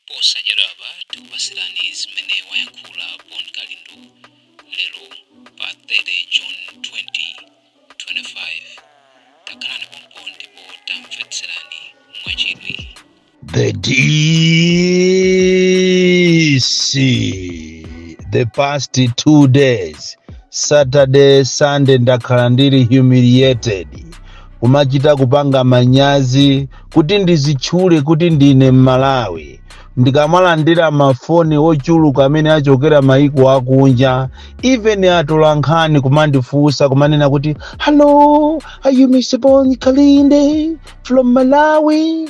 Posachedwapa tikupatsirani zimene wayankhula Bon Kalindo lero pa 30 June 2025. Takhalani pompo ndipo tamvetserani mwachidwi. The DC, the past two days, Saturday, Sunday, ndakhala ndili humiliated. kumachita kupanga manyazi kuti ndizitchule kuti ndine mmalawi ndikamalandira mafoni ochuluka amene achokera maiko akunja even atolankhani kumandifunsa kumanena kuti hello are you Mr. Bon Kalindo from malawi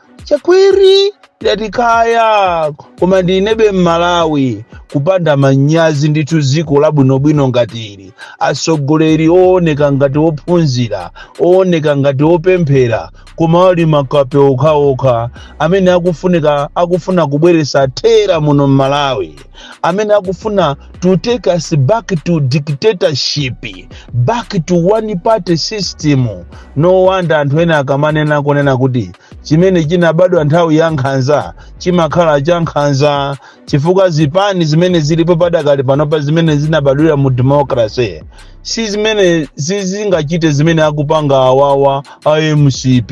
Chakwera ndati kaya koma ndinebe mmalawi kupanda manyazi ndithu dziko labwinobwino ngati ili atsogoleri ooneka ngati ophunzira ooneka ngati opemphera koma ali makape okhaokha amene akufunika akufuna kubweresa terror muno mmalawi amene akufuna to take us back to dictatorship back to one party system No wonder anthu ena akamanena kunena kuti chimene chinabadwa nthawi ya nkhanza chimakhala cha nkhanza chifukwa zipani zimene zilipo padakali panopa zimene zinabadwira mu democracy si zimene sizingachite zimene akupanga awawa a mcp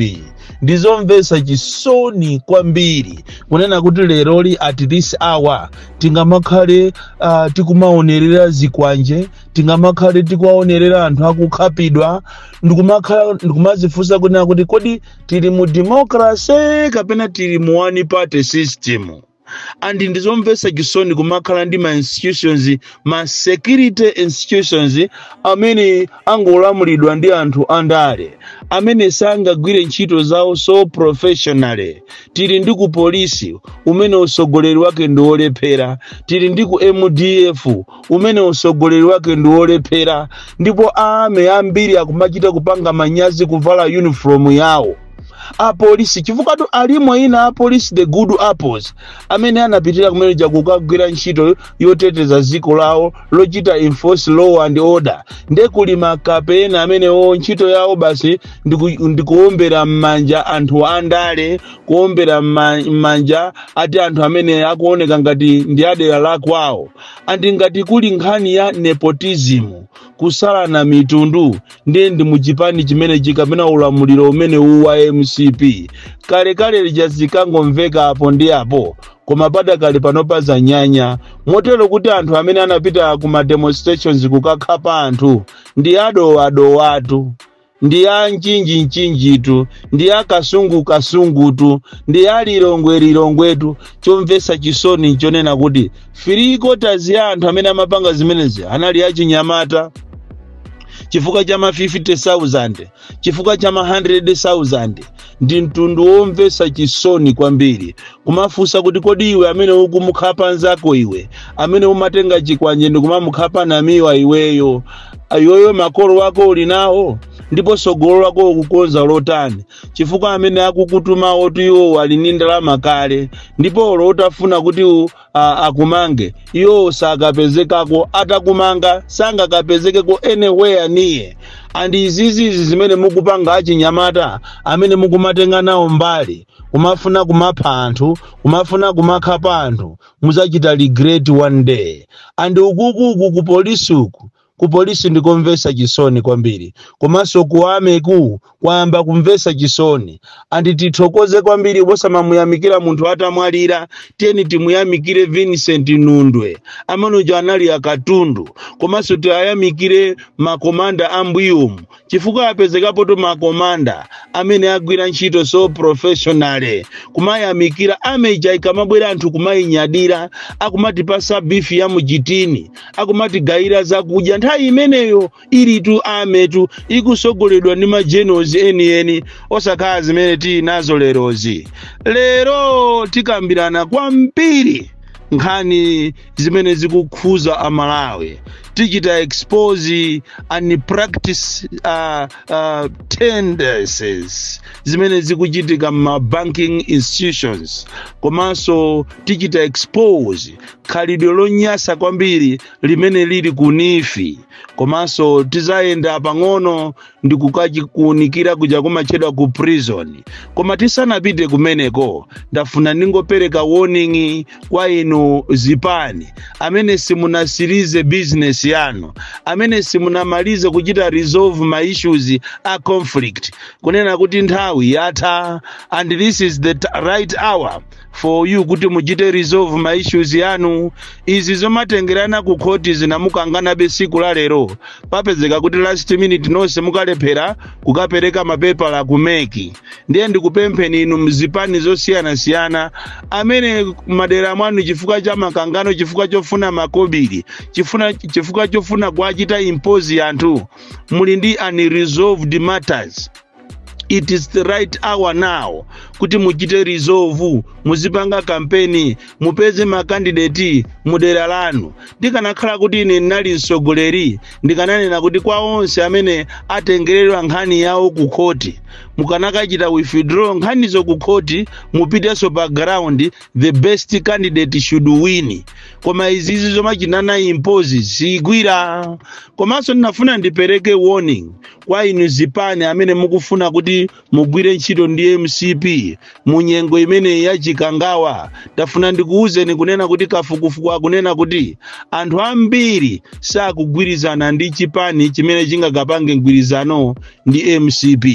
ndizomvetsa chisoni kwambiri kunena kuti leroli at this hour tingamakhale uh, tikumaonerera zikwanje tingamakhale tikuwaonerera anthu akukhapidwa ndikumakhala ndikumazifunsa kunena kuti kodi tili mu democracy kapena tili mu one party system and ndizomvetsa chisoni kumakhala ndi ma institutions ma security institutions amene angolamulidwa ndi anthu andale amene sangagwire ntchito zawo so professionally tili ndi ku polisi umene usogoleri wake ndi wolephera tili ndi ku mdf umene usogoleri wake ndi wolephera ndipo a army ambiri akumachita kupanga manyazi kuvala uniform yawo apolisi chifukwatu alimo ena apolisi the good apples amene anapitira kumene kuja kukagwira ntchito yoteteza dziko lawo lochita enforce law and order nde kuli makape ena amenewo ntchito yawo basi ndiku- ndikuombera m'manja anthu andale kuombera m'ma- m'manja ati anthu amene akuoneka ngati ndi adera lakwawo And ngati kuli nkhani ya nepotism, kusalana mitundu, ndiye ndi mu chipani chimenechi kapena ulamuliro umenewu wa mcp. Kalekale lija zinkangomveka apo ndi apo, koma padakali panopa zanyanya. Motero kuti anthu amene anapita ku ma demonstrations kukakhapa anthu ndi a Dowa a Dowatu. ndi a mchinji-mchinjitu, ndi a kasungu-kasungutu, ndi a lilongwe-lilongwetu. Chomvetsa chisoni nchonena kuti three quarters ya anthu amene amapanga zimenezi anali achinyamata chifukwa cha ma 50,000 chifukwa cha ma 100,000 ndi mtundu womvetsa chisoni kwambiri kumafunsa kuti kodi iwe amene ukumukhapa nzako iwe amene umatenga chikwanje ndi kumamukhapa namiwa iweyo iweyo makolo wako uli nawo ndipo tsogolo lako ukukonza lotani chifukwa amene akukutumawotu iwo ali ndi ndalama kale ndipo olo utafuna kuti u- a- akumange iwo sakapezekako atakumanga sangakapezekeko anywhere near and izizi izi zimene mukupanga achinyamata amene mukumatenga nawo mbali kumafuna kumapha anthu kumafuna kumakhapa anthu muzachita regret one day and ukukuku ku polisi uku ku polisi ndikomvesa chisoni kwambiri komanso ku army-ku kwayamba kumvesa chisoni and tithokoze kwambiri osamamuyamikira munthu atamwalira tiyeni timuyamikire vincent nundwe amene uja anali akatundu komanso tiwayamikire makomanda a m'mbuyomu chifukwa apezekapotu ma commander amene agwira ntchito so professionally kumayamikira army ija ikamabwera anthu kumayinyadira akumatipasa beef ya muchitini akumatigayira zakudya nthawi imeneyo ilitu army-tu ikusogoledwa ndi ma generals enieni osakhala zimene tili nazo lerozi lero tikambirana kwambiri nkhani zimene zikukhuza amalawi tichita expose and practice uh, uh, tendencies zimene zikuchitika m'ma banking institutions komanso tichita expose khalidwe lonyasa kwambiri limene lili ku NEEF komanso tizayenda pang'ono ndi kukakuunikira kuja kumatchedwa ku prison koma tisanapite kumeneko ndafuna ndingopereka warning kwa inu zipani amene simunatsirize business yanu amene simunamalize kuchita resolve ma issues a conflict kunena kuti nthawi yatha and this is the t- right hour for you kuti muchite resolve ma issues yanu izi zomatengerana ku khoti zina mukanganabe siku la lero papezeka kuti last minute nonse mukalephera kukapereka mapepala ku MEC ndiye ndikupempheni inu mzipani zosiyanasiyana amene m'madera mwanu chifukwa cha makangano chifukwa chofuna makobiri chifuna chifukwa chofuna kuwachita impose anthu muli ndi unresolved matters it is the right hour now kuti muchite resolve muzipanga kampeni mupeze makandideti mudera lanu ndikanakhala kuti ine ndinali mtsogoleri ndikananena kuti kwa onse amene atengeredwa nkhani yawo ku khoti mukanakachita withdraw nkhanizo ku khoti mupitenso pa ground the best candidate should win koma izizi zomachinana impose sigwira komanso ndinafuna ndipereke warning kwa inu zipani amene mukufuna kuti mugwire ntchito ndi mcp mu nyengo imeneyi ya chikangawa ndafuna ndikuwuzeni kunena kuti kafukufuku akunena kuti anthu ambiri sakugwirizana ndi chipani chimene chingakapange mgwirizano ndi mcp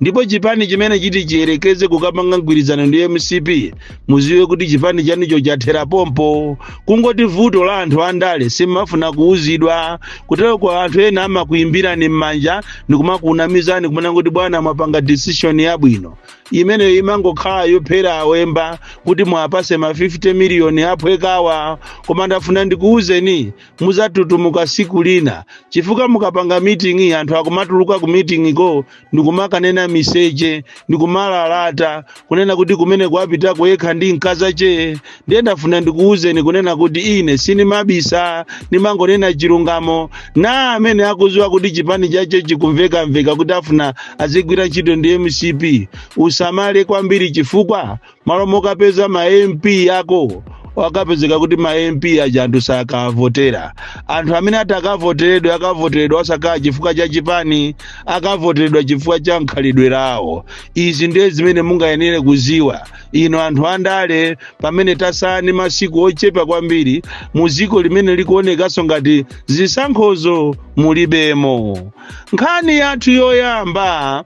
ndipo chipani chimene chiti chiyerekeze kukapanga mgwirizano ndi mcp muziwe kuti chipani chanucho chathera pompo kungoti vuto la anthu andale simafuna kuuzidwa kutero kwa anthu ena amakuimbirani m'manja ndikumakunamizani kunena kuti bwana mwapanga decision yabwino imeneyo imangokhala yophera awemba kuti muwapatse ma 50 miliyoni aphwekawa koma ndafuna ndikuuzeni muzatutumuka siku lina chifukwa mukapanga miting'i anthu akumatuluka ku miting'iko ndikumakanena miseche ndikumalalata kunena kuti kumene kwapitako yekha ndi mkazake ndiye ndafuna ndikuwuzeni kunena kuti ine sinimabisa ndimangonena chilungamo na amene akuziwa kuti chipani chache chikumvekamveka kuti afuna azigwira ntchito ndi mcp asamale kwambiri chifukwa malo mokapeza ma mp akowo akapezeka kuti ma mp aja anthu sakavotera anthu amene ati akavoteredwe akavoteredwa osakhala chifukwa cha chipani akavoteredwa chifukwa cha mkhalidwe lawo izi ndiye zimene mungayenere kuziwa inu anthu andale pamene tasala ndi masiku ochepa kwambiri mu dziko limene likuonekanso ngati zisankhozo mulibemo nkhani yathu yoyamba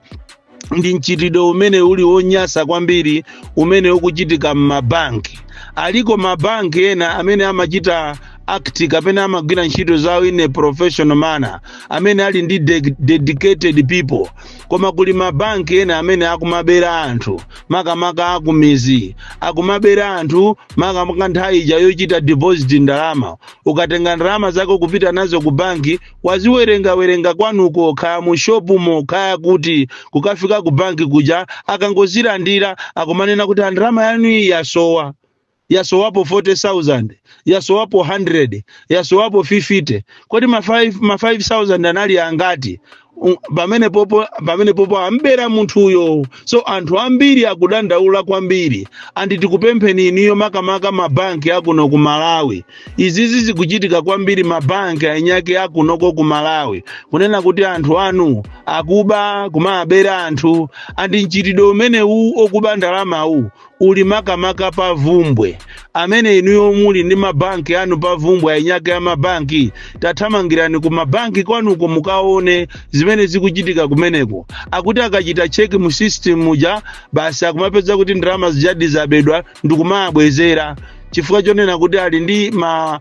ndi mchitidwe umene uli wonyasa kwambiri umene ukuchitika m'mabanki aliko mabanki ena amene amachita act kapena amagwira ntchito zawo in a professional manner amene ali ndi dedicated people koma kuli mabanki ena amene akumabera anthu makamaka akumizi akumabera anthu makamaka nthawi ija yochita deposit ndalama ukatenga ndalama zako kupita nazo ku banki waziwerengawerenga kwanuko khaya mu shopumo khaya kuti kukafika ku banki kuja akangozilandira akumanena kuti a ndalama yanu iyi yasowa yasowapo 40000 yasowapo 100 yasowapo 50 kodi ma 5 ma 5000 anali angati pamenepopo ambera munthuyo so anthu ambiri akudandaula kwambiri and tikupempheni inuyo makamaka mabanki akuno ku malawi izizi zikuchitika kwambiri mabanki anyake akunoko ku malawi kunena kuti anthu anu akuba kumabera anthu and mchitidwe umenewu okuba ndalamawu uli makamaka pa vumbwe amene inuyo muli ndi mabanki anu pa vumbwe anyake a mabanki tathamangirani ku mabanki kwanuko mukaone zimene zikuchitika kumeneko akuti akachita cheki mu system muja basi akumapeza kuti ndalama zijadi zabedwa ndikumawabwezera chifukwa chonena kuti ali ndi ma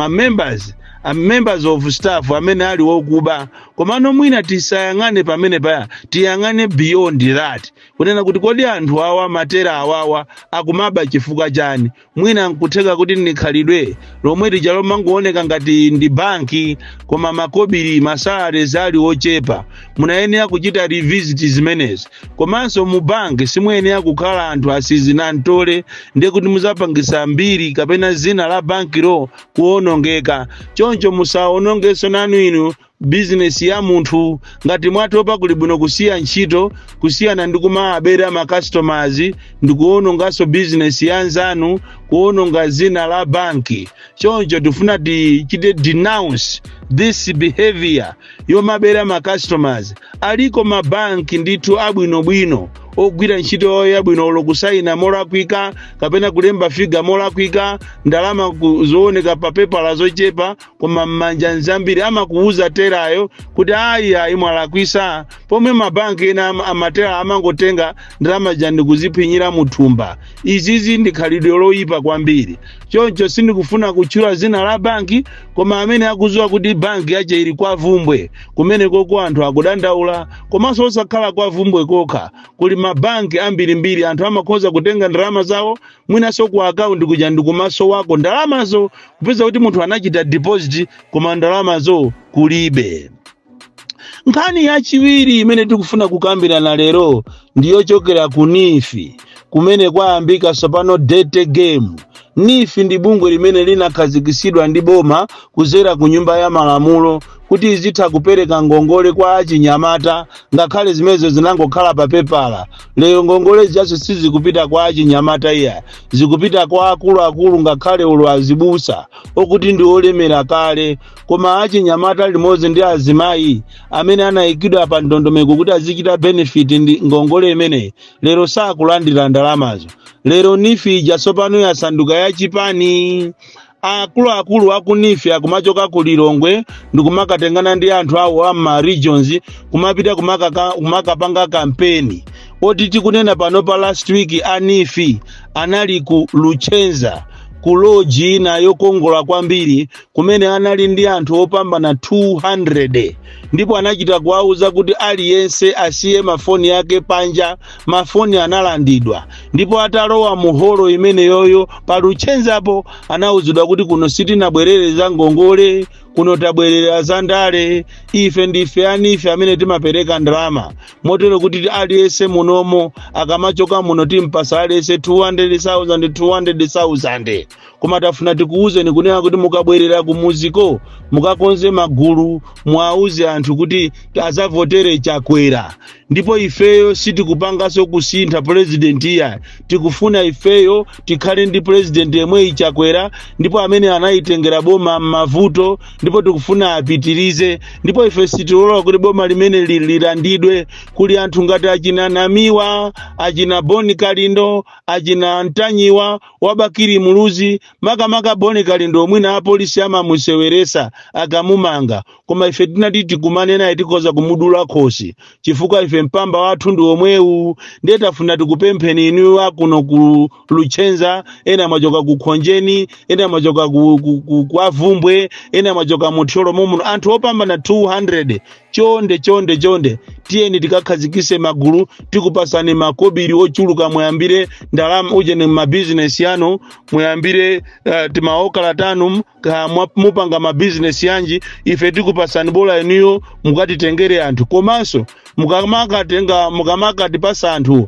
members a members of staff amene ali wokuba komano mwina tisayang'ane pamene paya tiyang'ane beyond that kunena kuti kodi anthu awa matera awawa akumaba chifukwa chani mwina nkutheka kuti ndikhalidwe lomwe lija lomangooneka ngati ndi banki koma makobiri masalarizi ali ochepa mumayenera kuchita revisit zimenezi komanso mu banki simuyenera kukhala anthu asizinamtole ndiye kuti muzapangisa mbiri kapena zina la bankilo kuonongeka choncho musaonongenso nanu inu bizinesi ya munthu ngati mwatopa kuli bwino kusiya ntchito kusiyana ndi kumawabera makasitomazi ndi kuononganso bizinesi ya nzanu kuononga zina la banki choncho tifuna tichite denounce this behavior yomabera ma customers aliko ma bank ndithu abwinobwino ogwira ntchito yawo yabwino olo kusayina molakwika kapena kulemba figa molakwika ndalama zooneka pa pepala zochepa koma m'manja nzambiri amakuwuza terayo kuti ayi ayi mwalakwisa pomwe mabanki ena amatera amangotenga ndalama zija ndikuziphinyira muthumba izizi ndi khalidwe loyipa kwambiri choncho sindikufuna kutchula zina la banki koma amene akuziwa kuti banki yache ili kwa vumbwe kumenekoko anthu akudandaula komanso osakhala kwa vumbwe kokha kuli mabanki ambirimbiri anthu amakhoza kutenga ndalama zawo mwinanso ku akaunti kuja ndikumaso wako ndalamazo kupeza kuti munthu anachita deposit koma ndalamazo kulibe nkhani yachiwiri imene tikufuna kukambirana lero ndi yochokera ku NEEF kumene kwayambika tsopano dirty game NEEF ndi bungwe limene linakhazikitsidwa ndi boma kudzera ku nyumba ya malamulo kuti izitha kupereka ngongole kwa achinyamata ngakhale zimenezo zinangokhala pa pepala lero ngongole zijazo sizikupita kwa achinyamata iya zikupita kwa akuluakulu ngakhale olo azibusa okuti ndi olemera kale koma achinyamata limodzi ndi azimayi amene anayikidwa pa ndondomeko kuti azichita benefit ndi ngongole imeneyi lero sakulandira ndalamazo lero NEEF ija tsopano yasanduka yachipani akuluakulu aku NEEF akumachoka ku lilongwe ndikumakatengana ndi anthu awo a ma regions kumapita kumakaka- kumakapanga kampeni oti tikunena pano pa last week a NEEF anali ku luchenza ku loji ina yokongola kwambiri kumene anali ndi anthu opambana 200 ndipo anachita kuwauza kuti aliyense asiye mafoni yake panja mafoni analandidwa ndipo atalowa mu holo imeneyoyo pa luchenzapo anauzidwa kuti kuno sitinabwerere za ngongole kuno tabwerera za ndale ife ndife a NEEF amene timapereka ndalama motero kuti aliyense munomo akamachoka muno timpasa aliyense 200,000 200,000 koma tafuna tikuwuzeni kunena kuti mukabwerera kumuziko mukakonze magulu muwauze anthu kuti azavotere chakwera ndipo ifeyo sitikupanganso kusintha purezidenti iya tikufuna ifeyo tikhale ndi purezidenti yemweyi chakwera ndipo amene analitengera boma m'mavuto ndipo tikufuna apitirize ndipo ife sitilola kuti boma limene li- lilandidwe kuli anthu ngati achina namiwa achina bon kalindo achina ntanyiwa wa Bakili Muluzi makamaka Bon Kalindo mwina apolisi amamuseweresa akamumanga koma ife tinati tikumane naye tikhoza kumudula khosi chifukwa ife mpamba wathu ndi womwewu ndiye tafuna tikupempheni inu akuno ku Luchenza ena amachoka ku Khonjeni ena amachoka ku, ku, ku, kwa Bvumbwe ena amachoka mu Thyolo momuno anthu opambana 200 chonde chonde chonde tiyeni tikakhazikise magulu tikupasani makobiri ochuluka muyambire ndalama ujeni mabizinesi yanu muyambire uh, timaokala tanu ka- mwa- mupanga mabizinesi yanji ife tikupasani bola inuyo mukatitengere anthu komanso mukamakatenga mukamakatipasa anthu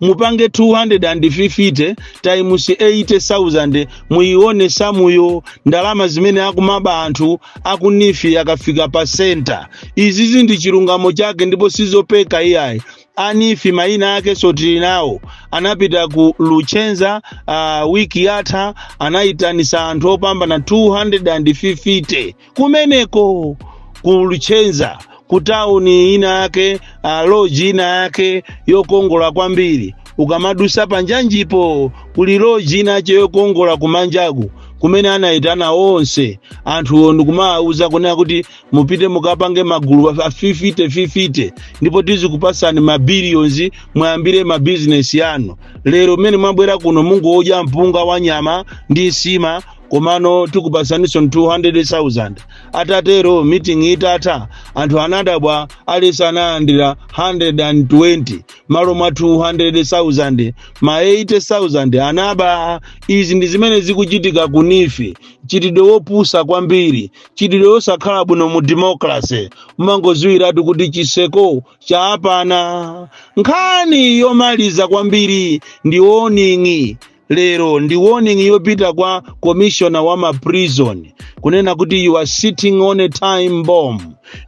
mupange 250 times 80,000 muyione samuyo ndalama zimene akumaba anthu aku NEEF akafika pa senta izizi ndi chilungamo chake ndipo sizopeka iyayi a NEEF mayina ake nso tili nawo anapita ku luchenza uh, wiki yatha anayitanisa anthu opambana 250 kumeneko ku luchenza ku tauni ina yake ah, loji ina yake yokongola kwambiri ukamadusa panjanjipo kuli loji ina yache yokongola kumanjaku kumene anayitana onse anthuwo ndikumawawuza kunena kuti mupite mukapange magulu a 50 50 ndipo tizikupasani mabiliyonzi muyambire mabizinesi yanu lero mmene mwabwera kuno mungodya mpunga wa nyama ndi nsima komano tikupasaninso 200,000 atatero meeting itatha anthu anadabwa aliyense analandira 120 malo mwa 200,000 ma 80,000 anaba izi ndi zimene zikuchitika ku nifi mchitidwe wopusa kwambiri mchitidwe wosakhala bwino mu democracy umangoziwiratu kuti chitseko chawapana nkhani yomaliza kwambiri ndi warning lero ndi warning yopita kwa commissioner wa ma prison kunena kuti you are sitting on a time bomb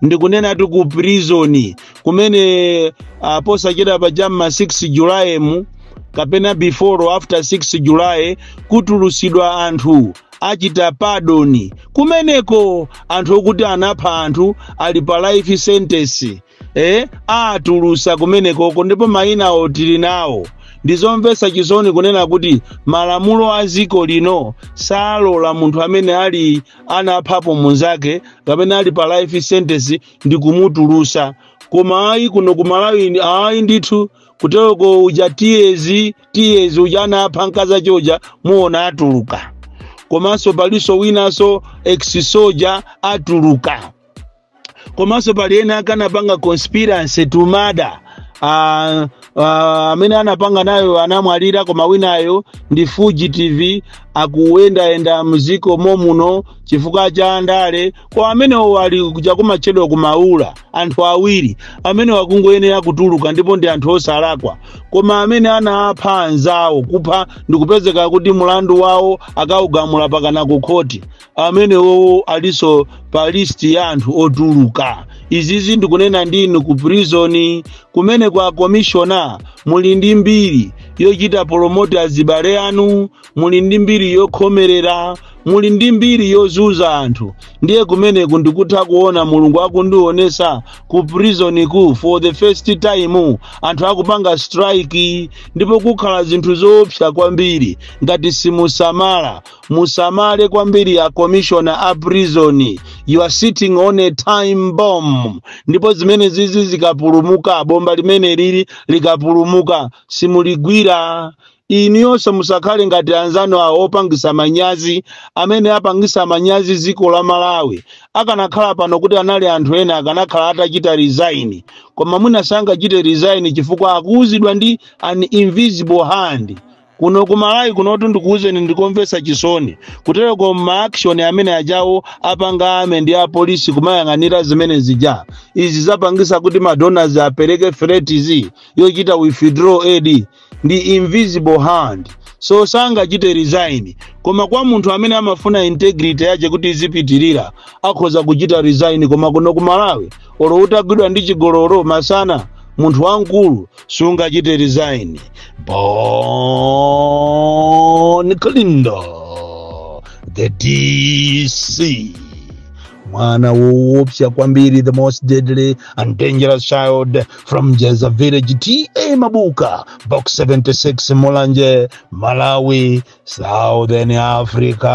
ndikunenatu ku prison kumene uh, posachedwa pa cha m'ma 6 july-mu kapena before or after 6 july kutulutsidwa anthu achita padoni kumeneko anthu okuti anapha anthu ali pa life sentence eh, atulutsa kumenekoko ndipo mayina awo tili nawo ndizomvetsa chisoni kunena kuti malamulo a dziko lino salola munthu amene ali anaphapo munzake kapena ali pa life sentence ndi kumutulutsa koma ayi kuno ku malawi ndi- ayi ndithu kuteroko uja tiyezi tiyezi uja anapha mkazi wache uja muona atuluka komanso palinso winanso ex soja atuluka komanso pali ena ake anapanga conspiracy to murder Ah, ah, amene anapanga nayo anamwalira koma winayo ndi fugitive akuyendayenda m'dziko momuno chifukwa cha ndale koma amenewo ali kuja kumatchedwa ku maula anthu awiri amenewo akungoyenera kutuluka ndipo ndi anthu osalakwa koma amene anapha anzawo kupha ndikupezeka kuti mulandu wawo akaugamula pakana ku khoti amenewowo alinso pa listi ya anthu otuluka izizi ndikunena ndinu ku prizoni kumene wa komishona muli ndi mbiri yochita polomoti azibale anu muli ndi mbiri yokhomerera muli ndi mbiri yozunza anthu ndiye kumeneku ndikutha kuona mulungu akundionetsa ku prison ku for the first time anthu akupanga strike ndipo kukhala zinthu zoopsa kwambiri ngati simusamala musamale kwambiri a commissioner a prison you are sitting on a time bomb ndipo zimene zizi zikaphulika bomba limene lili likaphulika simuligwira inuyonso musakhale ngati anzanu awo opangisa manyazi amene apangisa manyazi dziko la malawi akanakhala pano kuti anali anthu ena akanakhala atachita resign koma mwina sangachite resign chifukwa akuuzidwa ndi an invisible hand kuno ku malawi kunotu ndikuwuzeni ndikomvetsa chisoni kutereku maaction amene ajawo apanga army ndi apolisi kumayang'anira zimene zija izi zapangisa kuti madonors apereke threats yochita withdraw aid ndi invisible hand so sangachite resign koma kwa munthu amene amafuna integrity yache kuti izipitirira akhoza kuchita resign koma kuno ku malawi olo utagwidwa ndi chigololo masana munthu wamkulu sungachite resign bon klindo the dc mwana woopsa kwambiri the most deadly and dangerous child from jeza village ta mabuka box 76 mulanje malawi southern africa